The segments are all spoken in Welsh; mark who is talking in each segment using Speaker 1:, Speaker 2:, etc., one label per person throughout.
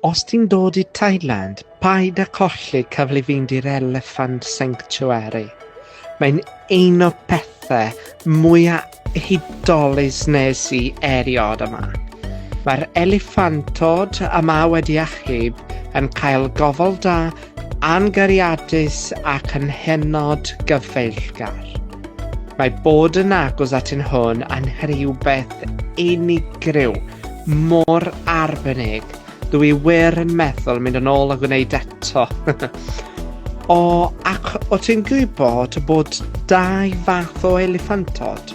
Speaker 1: Os ti'n dod i Thailand, paid â colli cyfle i fynd i'r Elephant Sanctuary. Mae'n un o'r pethau mwyaf hudolus nes i erioed yma. Mae'r eliffantod yma wedi achub yn cael gofal da Angariadus ac yn hynod gyfeillgar. Mae bod yn agos at yn hwn yn rhywbeth unigryw, mor arbennig, dw i wir yn meddwl mynd yn ôl a gwneud eto. o, ac o ti'n gwybod bod dau fath o eliffantod,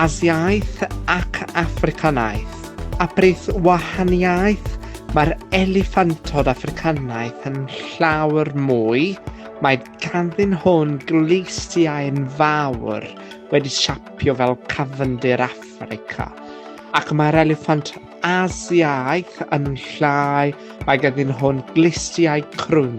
Speaker 1: Asiaeth ac Africanaeth, a brith wahaniaeth Mae'r eliffantod Affricanaidd yn llawer mwy, mae ganddyn hwn gleistiau'n fawr wedi siapio fel cafndir Affrica, ac mae'r eliffant Asiaidd yn llai, mae ganddyn hwn gleistiau crwn.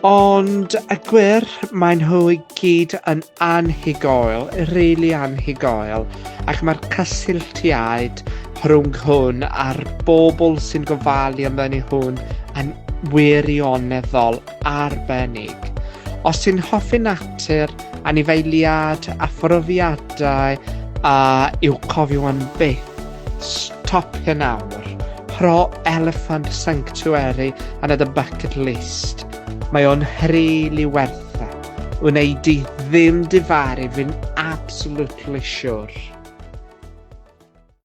Speaker 1: Ond y gwir, maen nhw i gyd yn anhygoel, rili really anhygoel, ac mae'r cysylltiaid rhwng hwn a'r bobl sy'n gofalu amdani hwn yn wirioneddol arbennig. Os ti'n hoffi natur, anifeiliad a phrofiadau a i'w cofio am byth, Stop hyn nawr. Pro Elephant Sanctuary and at the bucket list. Mae o'n rili werth e. Wnei di ddim difaru fi'n absolutely sure.